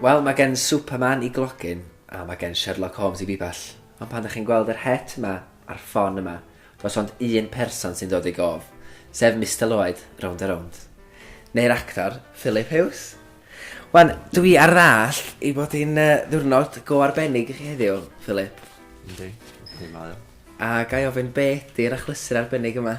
Wel, mae gen Superman i glogyn, a mae gen Sherlock Holmes i bibell. Ond pan ydych chi'n gweld yr het yma a'r ffon yma, does ond un person sy'n dod i gof, sef Mr Lloyd, rownd a rownd. Neu'r actor, Philip Hughes. Wan, dwi ar ddall i bod hi'n uh, ddwrnod go arbennig i chi heddiw, Philip. Yndi, yndi, mae o. A gai ofyn be ydy'r achlysur arbennig yma?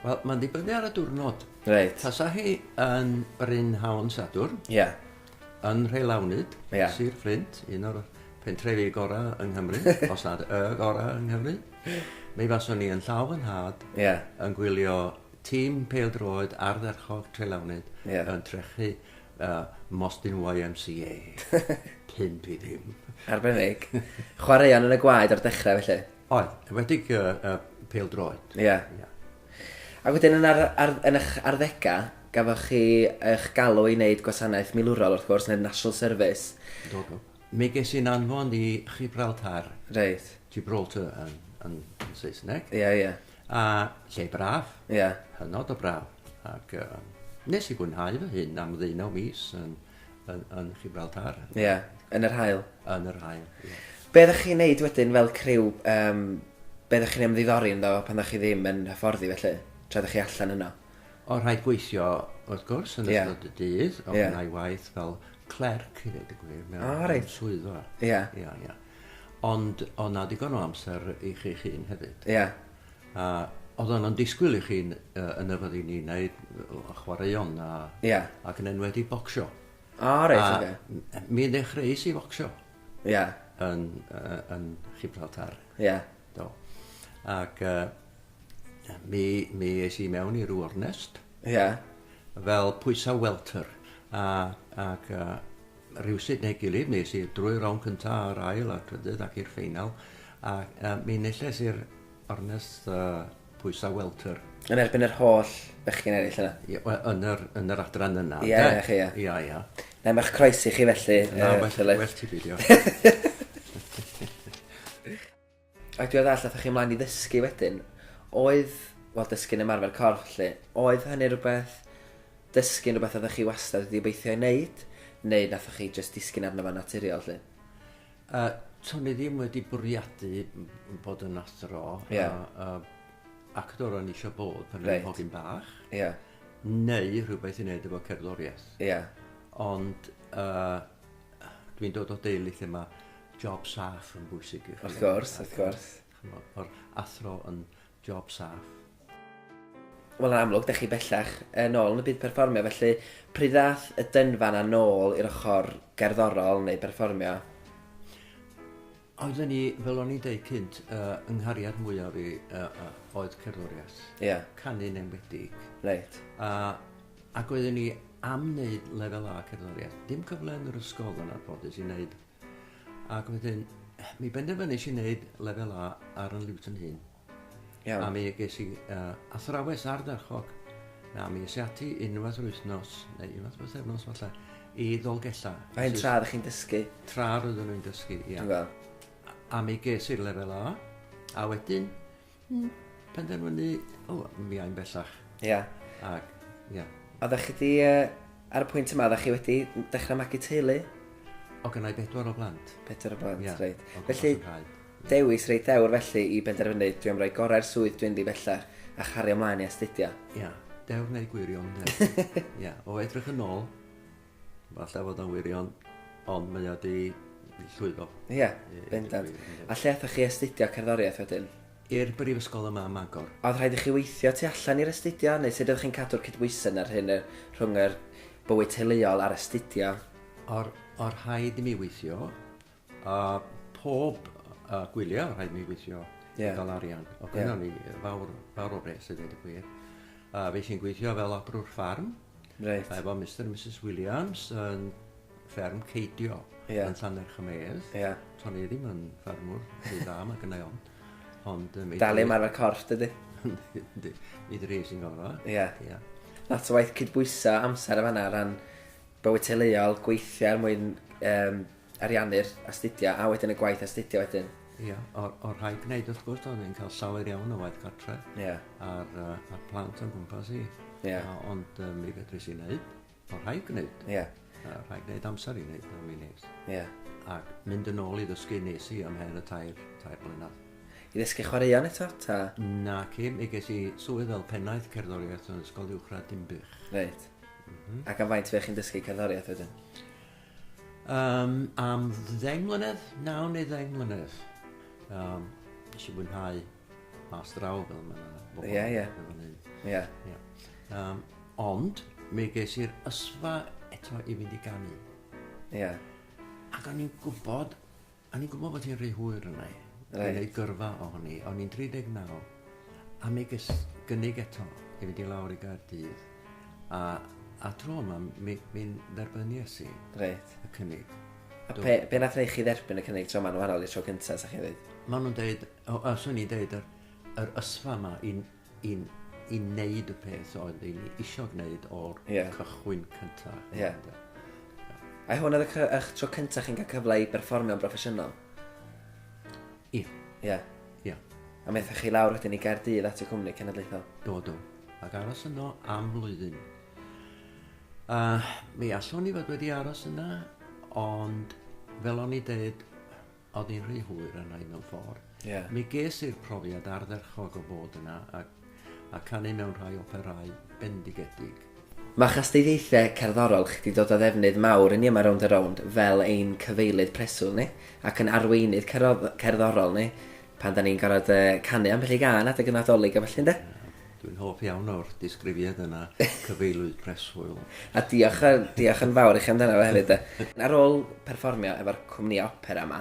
Wel, mae'n dibynnu ar y diwrnod. Reit. Tasa hi yn brynhawn Sadwrn. Ie. Yeah. Yn Rheilawnyd, yeah. Sir Fflint, un o'r pentrefi gorau yng Nghymru, os nad y gorau yng Nghymru. Mi faswn ni yn llaw yn had, yeah. yn gwylio tîm peildroed ardderchog Trelawnyd yeah. yn trechu uh, Mostyn YMCA. Pimp i ddim. Arbennig. Chwaraeon yn y gwaed o'r dechrau felly? Oedd, enwedig y, y pel droed. Ie. Yeah. Yeah. Ac wedyn yn, ar, ar, yn eich arddegau, gafoch chi eich galw i wneud gwasanaeth milwrol wrth gwrs, neu'r National Service. Do, do. Mi ges i'n anfon i Gibraltar. Reit. Gibraltar yn, yn, yn Saesneg. Ie, yeah, ie. Yeah. A lle braf. Ie. Yeah. Hynod o braf. Ac uh, nes i fwynhau fy hyn am ddeunaw mis yn yn, yn Gibraltar. Ie, yeah. yn yr hael. Yn yr hael, ie. Yeah. Be ddech chi'n neud wedyn fel criw, um, be ddech chi'n ymddiddori ynddo pan ddech chi ddim yn hyfforddi felly, tra ddech chi allan yno? O, rhaid gweithio, wrth gwrs, yn yeah. ystod y dydd, o yeah. gwneud waith fel clerc, i ddweud y gwir, mewn oh, right. swyddfa. Ie. Yeah. Yeah, yeah. Ond o na digon o amser i chi'ch hun hefyd. Ie. Yeah. A oedd o'n disgwyl i chi'n uh, yn y fyddi ni wneud chwaraeon a, yeah. ac yn enwedig bocsio. A, oh, reit, oce. Okay. Mi ddechreuais i focsio. Ie. Yeah. Yn, uh, yn Gibraltar. Ie. Yeah. Do. Ac uh, mi, mi eis i mewn i'r Warnest. Ie. Yeah. Fel pwysau welter. A, ac uh, rywsut neu gilydd, nes i drwy'r rownd cyntaf a'r ail a'r trydydd ac i'r ffeinal, a uh, mi enillais i'r ornes uh, pwysau welter. Yn erbyn yr holl bechgyn eraill yna? Ie, wel, yn yr, yn yr adran yna. Ie, ie, chi, ie. Ie, ie. Na, mae'ch croesi chi felly. Na, uh, well, well ti beidio. Ac dwi arall athach chi mlaen i ddysgu wedyn, oedd, wel dysgu'n ymarfer corff felly, oedd hynny rhywbeth, dysgu'n rhywbeth oeddech chi wastad wedi obeithio ei wneud, neu wnaethoch chi jyst disgyn arno fo'n naturiol lly? A, to'n i ddim wedi bwriadu bod yn athro, a, a, actor o'n i eisiau bod pan o'n i'n hogyn bach, neu rhywbeth i wneud efo cerddoriaeth. Ond, yy, Dwi'n dod o deulu lle mae job saff yn bwysig i chi. Wrth gwrs, wrth gwrs. O'r athro yn job saff. Wel, yn amlwg, da chi bellach yn ôl yn y byd perfformio, felly pryd ddath y dynfa yna nôl i'r ochr gerddorol neu berfformio? Oedden ni, fel o'n i'n deud cynt, uh, yng nghariad mwyaf fi uh, uh, oedd cerddoriaeth. Ie. Yeah. Canu'n enwedig. Reit. A, ac oedden ni am wneud lefel A cerddoriaeth. Dim cyfle yn yr ysgol yn arfoddus i wneud. Ac wedyn, mi benderfynais i wneud lefel A ar yn liwt yn hun. Iawn. A mi ges i yy athrawes ardderchog a mi es i ati unwaith yr wythnos neu unwaith yr wythefnos falle i Ddolgella. A hyn tra oeddech chi'n dysgu? Tra roeddwn nhw'n dysgu, ia. Dwi'n gweld. A mi ges i'r lefel A, a wedyn mm, penderfynu, o, mi ai'n bellach. Ia. Ac, ia. A ddech chi di, uh, ar y pwynt yma, ddech chi wedi dechrau magu teulu? O gynnau bedwar o blant. Pedwar o blant, yeah. reit. Felly, Dewis reit ddewr felly i benderfynu, dwi am roi gorau'r swydd dwi'n ddi bellach a chario mlaen i astudio. Ia, dewr neu gwirion ynde? Ia, o edrych yn ôl, falle fod o'n wirion, ond mae o di llwyddo. Ia, bendant. A lle athoch chi astudio cerddoriaeth wedyn? I'r brifysgol yma ym Mangor. Oedd rhaid i chi weithio tu allan i'r astudio, neu sut ydych chi'n cadw'r cydbwysedd yna rhyn y, rhwng yr bywyd teuluol a'r astudio? O'r, o'r rhaid i mi weithio, A pob yy gwylie o' rhaid mi gweithio. Ie. I ga'l arian. Ie. Odd gynno ni yy fawr fawr o bres i ddeud y gwir. A fues i'n gweithio fel abrwr ffarm. Reit. Efo Mister a Misus Williams yn fferm Ceidio. Ie. Yn Llannerchymedd. Ie. To'n i ddim yn ffarmwr rhy dda ma' gynnai ofn. Ond yy mi... Dal i ymarfer corff dydi? Yndi yndi. Mi dres i'n gorfo. Ie. Ia. Lot o waith cydbwyso amser yn fan 'na o ran bywyd teuluol, gweithio er mwyn yym ariannu'r astudio a wedyn y gwaith astudio wedyn. Ia, o'r, or rhaid gwneud wrth gwrs, oedd yn cael llawer iawn o waith gartre yeah. ar, uh, ar plant o'n gwmpas i. Yeah. A, ond um, mi fedru si wneud, o'r rhaid gwneud. Yeah. A, rhaid gwneud amser i wneud am i nes. Yeah. Ac mynd yn ôl i ddysgu nes i am her y tair, tair blynedd. I ddysgu chwaraeon eto, ta? Na, ci, mi ges i swydd fel pennaeth cerddoriaeth yn ysgol uwchradd Dimbych. Reit. Mm -hmm. Ac am faint fe chi'n dysgu cerddoriaeth wedyn? Yym am ddeng mlynedd, naw neu ddeng mlynedd. Yym nes i fwynhau mas draw fel ma' bobol Ie ie. yn fan hyn. Ie. Ie. Yym ond mi ges i'r ysfa eto i fynd i ganu. Ie. Ac o'n i'n gwbod O'n i'n gwybod bod hi'n rhy hwyr arna i. Reit. I wneud gyrfa ohoni. O'n i'n 39. A mi ges gynnig eto i fynd i lawr i Gaerdydd. A, a tro yma, mi, mi dderbynies i Reit. y cynnig. A Do. pe, be nath wneud chi dderbyn y cynnig tro yma'n wahanol i'r tro cyntaf, sa chi'n dweud? Maen nhw'n deud, o, a swn i'n deud, yr, yr ysfa yma i, i, i wneud y peth oedd i ni isio gwneud o'r yeah. cychwyn cyntaf. Yeah. A hwn oedd eich tro cyntaf chi'n cael cyfle i berfformio'n broffesiynol? Ie. Ie. Ie. A methoch chi lawr wedyn i Gaerdydd at y cwmni cenedlaethol? Do, do. Ac aros yno am flwyddyn. A mi allwn ni fod wedi aros yna, ond fel o'n i dweud, Oedd hi'n rhy hwyr yna i mewn ffordd. Yeah. Mi ges i'r profiad ardderchog o fod yna a, a canu mewn rhai operau bendigedig. Mae chastudiaethau cerddorol chi 'di dod o ddefnydd mawr i ni yma Rownd a Rownd fel ein cyfeilydd preswyl ni ac yn arweinydd cerddorol ni pan 'da ni'n gorfod canu ambell i gân adeg y Nadolig a ballu ynde? Dwi'n hoff iawn o'r disgrifiad yna, cyfeilwyr preswyl. A diolch, diolch yn fawr i chi amdano fe hefyd. Ar ôl perfformio efo'r cwmni opera yma,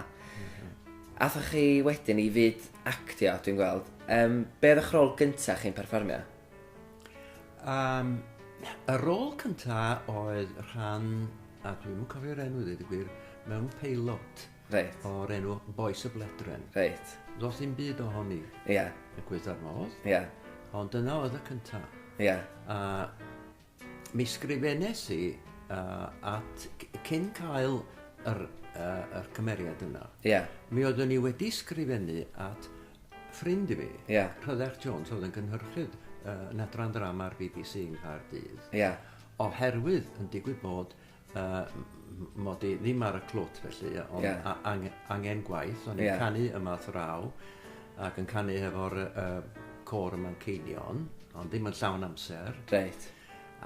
athoch chi wedyn i fyd actio, dwi'n gweld. Um, be oedd eich rôl gyntaf chi'n perfformio? Um, y rôl cyntaf oedd rhan, a dwi'n cofio'r enw ddweud y gwir, mewn peilot. Reit. O'r enw Bois y Bledren. Reit. Does dim byd o honi. Ia. Y cwyd ar modd. Ia. Ond dyna oedd y cynta. Ia. A mi sgrifennes i uh, at cyn cael yr, uh, yr cymeriad yna. Ia. Mi oeddwn ni wedi sgrifennu at ffrind i mi, Ia. Rhyddech Jones, oedd yn gynhyrchydd uh, yn adran ddrama ar BBC yng Nghaerdydd. Ia. Oherwydd yn digwydd bod Uh, mod i ddim ar y clwt felly, ond yeah. ang angen gwaith, o'n i'n yeah. canu yma thraw, ac yn canu hefo'r uh, cor yma'n ceinion, ond ddim yn llawn amser. Reit.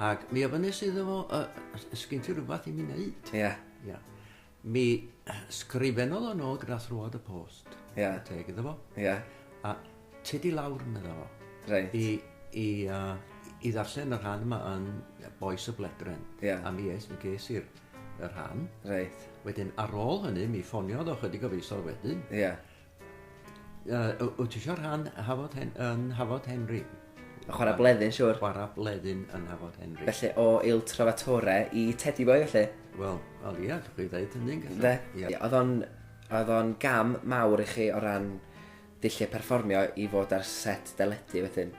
Ac mi ofynnes iddo fo, uh, sgyn ti rhywbeth i mi wneud? Ie. Yeah. Yeah. Mi sgrifennodd o'n ôl gyda thrwad y post. Ie. Yeah. Teg iddo fo. Ie. Yeah. A Tydi lawr, medda fo. Reit. I, i, uh, i ddarllen y rhan yma yn Boes y Bledren. Yeah. A mi eis, mi ges i'r y rhan. Reit. Wedyn, ar ôl hynny, mi ffoniodd o chydig o feisodd wedyn. Ie. Yeah. Uh, wyt ti eisiau rhan Hafod, Hen, yn Hafod Henry? A chwarae bleddyn, siwr. Chwarae bleddyn yn Hafod Henry. Felly, o Il Trovatore i Teddy Boy, felly? Wel, wel ia, dwi'n chi ddeud hynny'n gallu. Ie, oedd o'n gam mawr i chi o ran Dulliau perfformio i fod ar set deledu wedyn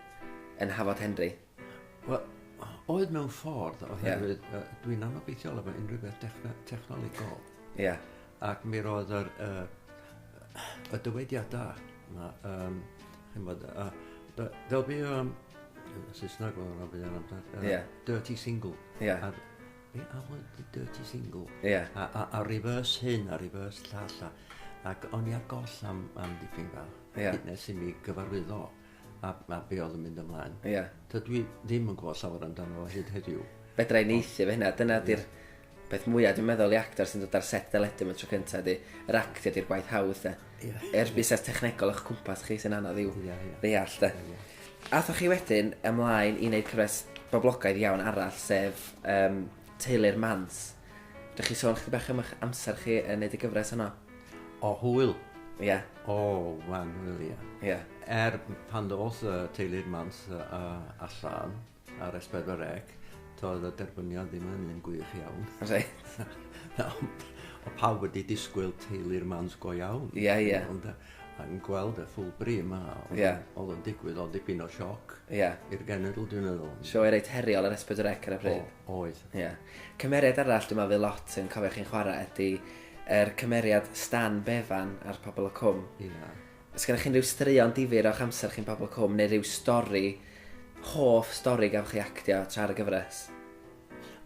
yn Hafod Henry? Wel, oedd mewn ffordd, oherwydd yeah. uh, dwi'n anobeithiol efo unrhyw beth technolegol. Ie. Yeah. Ac mi roedd yr, uh, y dywediadau yma, um, chi'n bod, uh, there'll be, um, Saesneg oedd yna bydd yna, uh, yeah. dirty single. Yeah. Ar, Be am y d- dirty single? Ie. A, a, a reverse hyn, a reverse llall, a, ac o'n i ar goll am, am dipyn bach. Ie. Hyd Nes i mi gyfarwyddo a, a be oedd yn mynd ymlaen. Ie. Dydw i ddim yn gwybod llawer amdano fo hyd heddiw. Fedra i neithio fe hynna, dyna di'r peth mwyaf dwi'n meddwl i actor sy'n dod ar set deledu am y tro cyntaf di. Yr actio di'r gwaith hawdd de. Yr busnes technegol o'ch cwmpas chi sy'n anodd i'w ddeall, de. Athoch chi wedyn ymlaen i wneud cyfres boblogaidd iawn arall, sef um, Teulu'r Mans. Dych chi sôn chdi bach am eich amser chi yn neud y gyfres yno? O hwyl. Ie. Yeah. O, wan hwyl, ie. Yeah. Ie. Yeah. Er pan ddoth uh, Teulu'r Mans uh, allan, Ar es pedwar deg, toedd y derbyniad ddim yn un gwych iawn. Reit. Na, ond o pawb wedi disgwyl teulu'r mans go iawn. Ie, yeah, ie. Yeah. Ond yn gweld y ffwl bri yma, oedd yeah. oedd yn digwydd, oedd dipyn o sioc yeah. i'r genedl, dwi'n meddwl. Sio ei reit heriol ar Esbyd yr Ec ar y pryd. O, oedd. Yeah. Cymeriad arall, dwi'n meddwl, lot yn cofio chi'n chwarae, ydy er cymeriad Stan Bevan a'r pobl o Cwm. Ia. Yeah. Os gennych chi unrhyw straeon difyr o'ch amser chi'n Pobl Cwm neu rhyw stori, hoff stori gafwch chi actio tra ar y gyfres?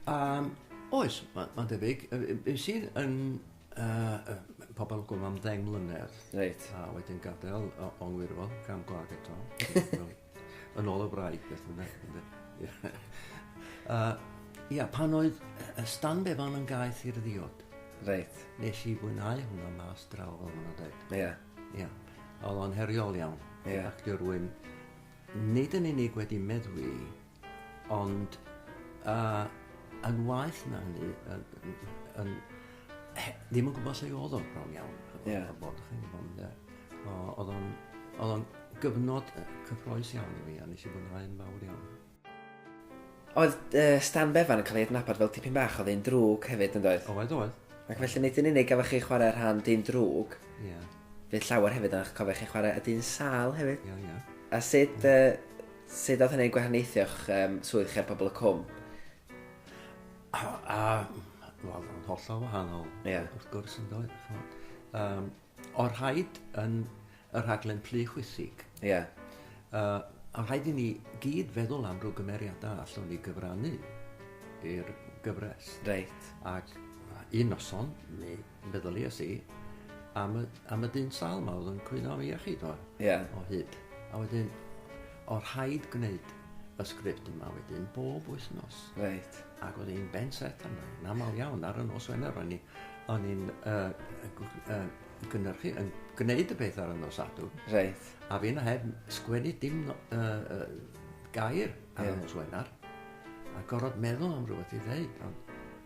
Yym, oes, ma- ma'n debyg. Yy yy es i yn yy yy Pobl y Cwm am ddeng mlynedd. Reit. A wedyn gadel o- o'n wirfodd, cam gwlad eto. Yn ôl y wraig, beth bynnag. uh, ia, pan oedd y Stan Bevan yn gaeth i'r ddiod. Reit. Nes i fwynhau hwnna mas draw, fel maen nhw'n dweud. Ia. Ia. Oedd o'n heriol iawn. Ia. Actio rwy'n nid yn unig wedi meddwi, ond uh, yn waith na hynny, yn, yn, yn he- ddim yn gwybod lle oedd o, bron iawn. Ie. Yeah. Bod chi'n gwybod, ynde. Oedd o'n... Oedd o'n gyfnod cyffroes iawn i mi, a nes i fwynhau'n fawr iawn. Oedd uh, Stan Bevan yn cael ei adnabod fel tipyn bach o ddyn drwg hefyd, yn doedd? Oedd, oedd. Ac felly nid yn unig gafodd chi chwarae rhan dyn drwg, Ie. Yeah. fydd llawer hefyd, ond cofio chi chwarae y dyn sal hefyd. Ie, yeah, ie. Yeah. A sut, yeah. uh, sut oedd hynny'n gwahaniaethio'ch um, swydd chi ar pobl y cwm? A, a wel, yn hollol wahanol, yeah. wrth gwrs, yn dod. Um, o'r rhaid yn y rhaglen plu chwithig. Ie. Yeah. Uh, a rhaid i ni gyd feddwl am rhyw gymeriadau allwn ni gyfrannu i'r gyfres. Reit. Ac un noson, mi Meddyliais i am y, am y dyn sal yma oedd yn cwyno am ei iechyd o, yeah. o hyd. A wedyn, o rhaid gwneud y sgript yma wedyn bob wythnos. Reit. Ac oedd hi'n ben set yna, yn aml iawn ar y nos Wener, o'n i'n uh, uh, gynhyrchu, yn gwneud y peth ar y nos adw. Reit. A fi'n heb sgwennu dim no, uh, uh, gair ar yeah. y nos Wener, a gorfod meddwl am rhywbeth i ddeud, ond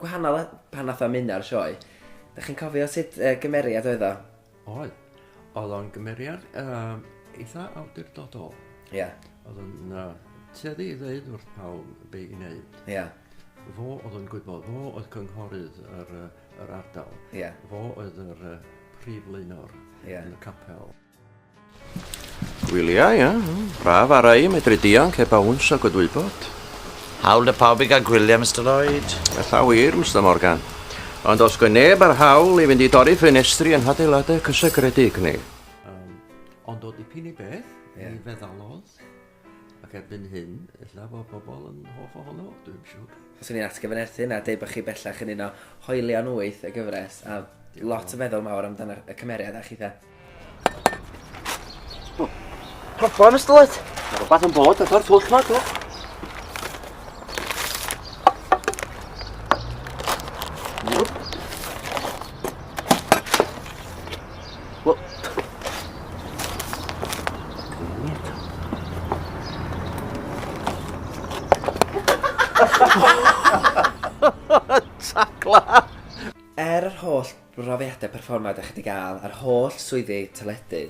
gwahanol a pan nath o ymuno â'r sioe. Dach chi'n cofio sut uh, gymeriad oedd o? Oedd. Oedd o'n gymeriad um, eitha awdurdodol. Ie. Yeah. Oedd o'n uh, tueddu i ddeud wrth pawb be i wneud. Ie. Yeah. Fo oedd yn gwybod, fo oedd cynghorydd yr, yr ardal. Ie. Yeah. Fo oedd yr uh, prif leunor yeah. yn y capel. Gwyliau, ia. Braf ar ei medru dianc heb awns a gwydwybod. Hawl y pawb i gael gwyliau, Mr Lloyd. Ella wir, Mr Morgan. Ond os gwe neb ar hawl i fynd i dorri ffenestri yn hadeiladau cysegredig, neu... Um, ond o dipyn i beth, yeah. ni feddalodd. Ac erbyn hyn, ella bod pobl yn hoff ohono fo, dwi'm siwr. Swn i'n atgyfynerthu hynna a deud bod chi bellach yn un o hoelion wyth y gyfres a lot yn feddwl mawr amdano y cymeriad a chitha. O, pobol yn ystod! Mae rhywbeth yn bod, a ddo'r twll ma, do. Wel... Tacla! Er yr holl brofiadau perfformiad dach chi wedi gael a'r holl swyddi teledu,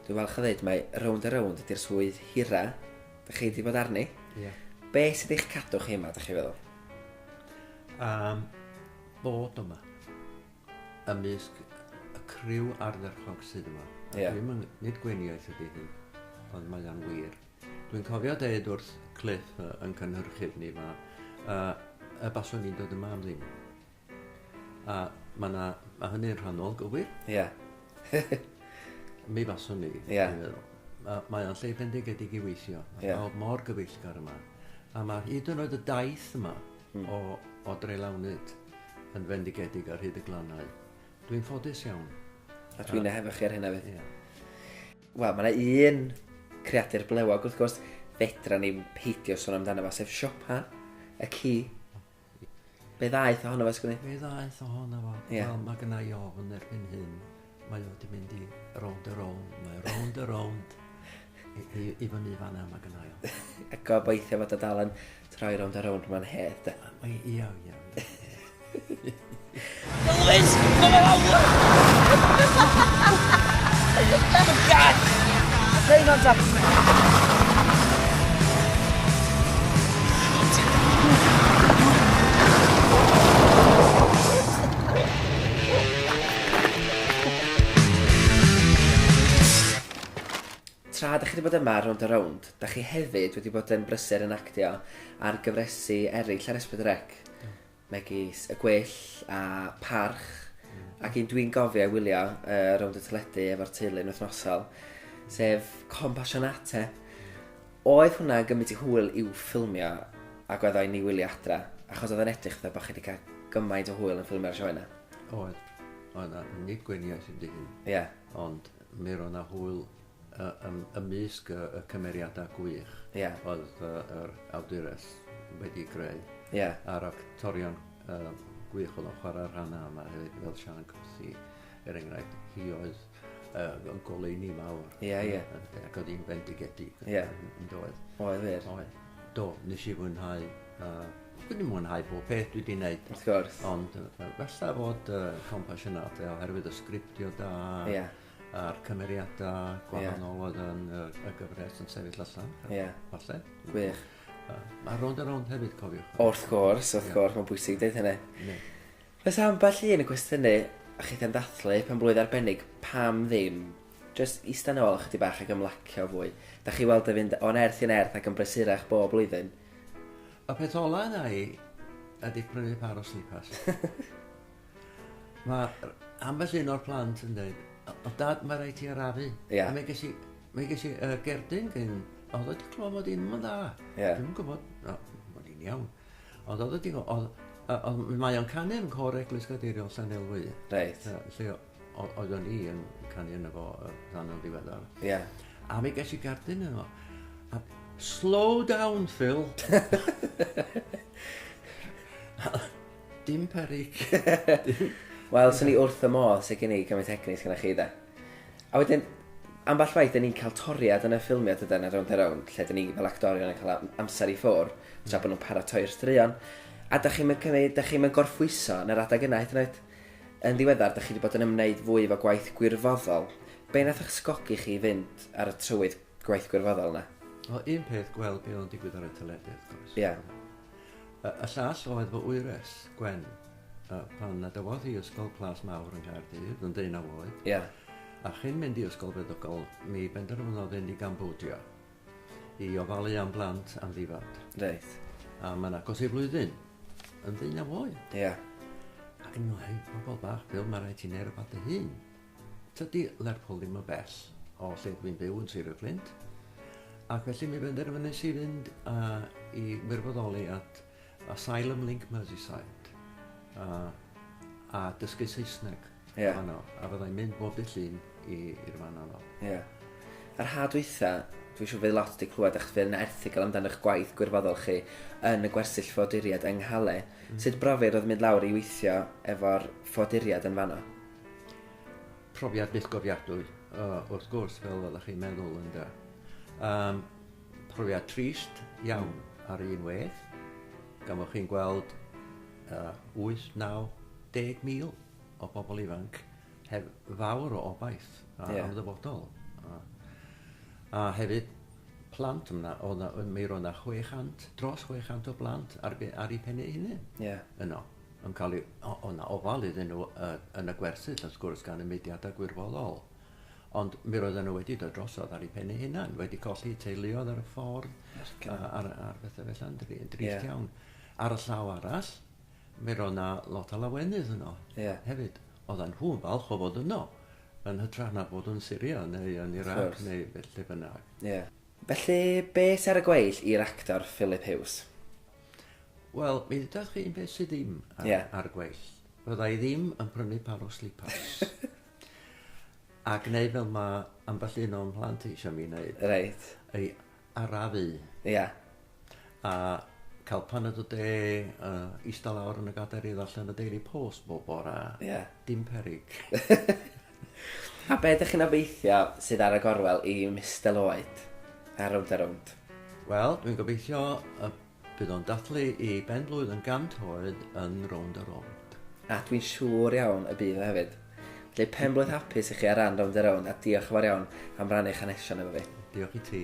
dwi'n falch o ddeud mae Rownd a Rownd ydy'r swydd hira dach chi wedi bod arni. Ie. Be sydd eich cadw chi yma, dach chi'n feddwl? Yym, bod yma. ymysg y criw ardderchog sydd yma. A yeah. Dwi'n nid gweiniaeth ydy hyn, ond mae o'n wir. Dwi'n cofio deud wrth Cliff uh, yn cynhyrchydd ni fa, uh, y baswn ni'n dod yma am ddim. A mae yna, mae hynny'n rhannol gywir. Ie. Yeah. Mi faswn ni, Ie. Yeah. Mae, mae o'n lle bendigedig i weithio. Mae yeah. mor gyfeillgar yma. A mae hyd yn oed y daith yma, o o drelawnud yn fendigedig ar hyd y glannau. Dwi'n ffodus iawn. A dwi'n uh, efo chi ar hynna fydd. Yeah. Wel, mae yna un creadur blewog, wrth gwrs, fedra ni'n peidio sôn amdano fo, sef Siopa, y ci. Be ddaeth ohono fo, sgwni? Be ddaeth ohono fo? Yeah. Wel, mae gennau ofn erbyn hyn Mae o wedi mynd i rownd a rownd, mae rownd a rownd i, i, i fyny fan yma mae gynna i. A gobeithio fod o dal yn troi rownd a rownd mae'n hedd, da. Mae i iawn, iawn. Lewis! Mae'n awr! Mae'n gad! Rhaid o'n dap! Tra dach chi wedi bod yma ar Rownd a Rownd, dach chi hefyd wedi bod yn brysur yn actio ar gyfresu eraill ar Esbyd Rec, megis Y Gwyll a Parch, ac un dwi'n gofio ei wylio uh, rownd y teledu efo'r teulu yn wythnosol, sef Compassionate. Oedd hwnna yn gymryd i hwyl i'w ffilmio ac oedd o'n ni wylio adra, achos oedd o'n edrych dda bod chi wedi cael gymaint o hwyl yn ffilmio'r sioe yna. Oedd. Oedd 'na nid gweiniais i dihun. Ie. Ond mi roedd 'na hwyl yy ym ymysg y y cymeriada gwych... Ie. ...oedd yy yr awdures wedi greu. Ie. A'r actorion yy gwych o'dd o'n chwarae rhana yma hefyd fel Siân Cathy er enghraifft hi oedd uh, goleuni mawr. Ie, yeah, ie. Yeah. Ac oedd hi'n bendigedig. Ie. Yeah. Doedd. Oedd wir. Oedd. Do, nes i fwynhau. Uh, dwi wedi mwynhau bob peth dwi wedi gwneud. Wrth gwrs. Ond uh, felly fod uh, compassionate oherwydd y sgriptio da. Ie. Yeah a'r cymeriadau gwahanol yeah. oedd yn y, y gyfres yn sefyll allan. Ie. Yeah. Falle. Gwych. Mae rond a rond hefyd, cofiwch. Wrth gwrs, wrth yeah. gwrs, mae'n bwysig dweud hynny. Yeah. Oes ambell un yn cwestiynu a chith am ddathlu penblwydd arbennig, pam ddim jyst ista nôl ychydig bach ac ymlacio fwy? Dach chi weld yn fynd o nerth i nerth ac yn brysurach bob blwyddyn? Y peth ola yna i ydi prynu pâr o slipars. Mae ambell un o'r plant yn dweud, o dad mae rhaid ti arafu. Yeah. A mi ges i, mi ges i uh, gerdyn gyn, oedd wedi clywed mod i'n mynd dda. Yeah. Dwi'n gwybod, no, mod i'n iawn. Ond oedd y ding... Oedd... yy oedd... Mae o'n canu yn Côr Eglwys Gadeiriol Llanelwy. Reit. Yy lle o- o- oeddwn i yn canu yno fo yy rhan yn ddiweddar. Ie. A mi ges i gardyn yno. A slow down Phil! Dim peryg. Wel, swn i wrth fy modd, sut gei ni gymaint o egni sy gynnoch chi de? A wedyn, ambell waith, 'da ni'n cael toriad yn y ffilmiau, dydan, ar rownd a rownd, lle 'da ni fel actorion yn cael am- amser i ffwr, tra bod nhw'n paratoi'r straeon. A da chi'm yn cymryd, da chi'm yn gorffwyso yn yr adeg yna hyd yn oed. Yn ddiweddar, da chi wedi bod yn ymwneud fwy efo gwaith gwirfoddol. Be nath ysgogi chi i fynd ar y trywydd gwaith gwirfoddol yna? Wel, un peth, gweld be oedd yn digwydd ar y teledu, wrth gwrs. Ie. Y y llall oedd fy wyres, Gwen. A pan adawodd hi Ysgol Plas Mawr yng Nghaerdydd yn ddeunaw oed... Ia. ...a chyn mynd i Ysgol Feddygol, mi benderfynodd fynd i Gambodia i ofalu am blant amddifad. Reit. A mae'n agos ei flwyddyn yn ddeunaw oed. Ia. Ac yn meddwl, hei, pobl bach, Phil, mae rhaid ti'n neud rhywbeth dy hun. Tydi Lerpwl ddim yn bell o lle dwi'n byw yn Sir y Fflint. Ac felly mi benderfynais i fynd a i wirfoddoli at Asylum Link Merseyside a, a dysgu Saesneg yeah. fanno, a fyddai'n mynd bob dy llun i'r fan yno. Ie. Yeah. Yr had weitha, dwi eisiau fydd lot wedi clywed eich fel yn erthigol amdano eich gwaith gwirfoddol chi yn y gwersyll ffoduriad yng Nghale. Mm. Sut brofiad oedd mynd lawr i weithio efo'r ffoduriad yn fanno? Profiad bythgofiadwy, uh, wrth gwrs, fel ydych chi'n meddwl, ynddo. Um, Profiad trist iawn ar un wedd, gan fod chi'n gweld uh, 8, 9, 10 mil o bobl ifanc heb fawr o obaith a yeah. am ddyfodol. A, a hefyd plant yna, o na, mi roedd yna 600, dros 600 o blant ar, ar ei pen ei hunain yeah. yno. Yn cael ei, o, o na ofal iddyn nhw uh, yn y gwersyll, wrth gwrs, gan y mudiadau gwirfoddol. Ond mi roedden nhw wedi dod drosodd ar ei phen ei hunan, wedi colli teuluodd ar y ffordd, ar, ar bethau felly, yn drist yeah. iawn. Ar y llaw arall, mi roedd yna lot o lawenydd yno yeah. hefyd. Oedden nhw'n falch o fod yno, yn hytrach na bod yn Syria neu yn Iraq neu lle bynnag. Yeah. Felly, beth ar y gweill i'r actor Philip Hughes? Wel, mi ddydach chi'n beth sydd ddim ar, yeah. ar y gweill. Fydda i ddim yn prynu par o slippers. A gwneud fel mae ambell un o'n mhlant eisiau mi wneud. Reit. I arafu. Ia. Yeah. A cael paned o de, uh, eistedd lawr yn y gader i ddarllen y Daily Post bob bora. Ia. Yeah. Dim perig. a be ydych chi'n obeithio sydd ar y gorwel i Mr Lloyd? Ar rownd a rownd. Wel, dwi'n gobeithio y Bydd o'n dathlu ei ben-blwydd yn 100 oed yn Rownd a Rownd. A dwi'n siŵr iawn y bydd o hefyd. Felly pen-blwydd hapus i chi ar ran Rownd a Rownd a diolch yn fawr iawn am rannu eich hanesion efo fi. Diolch i ti.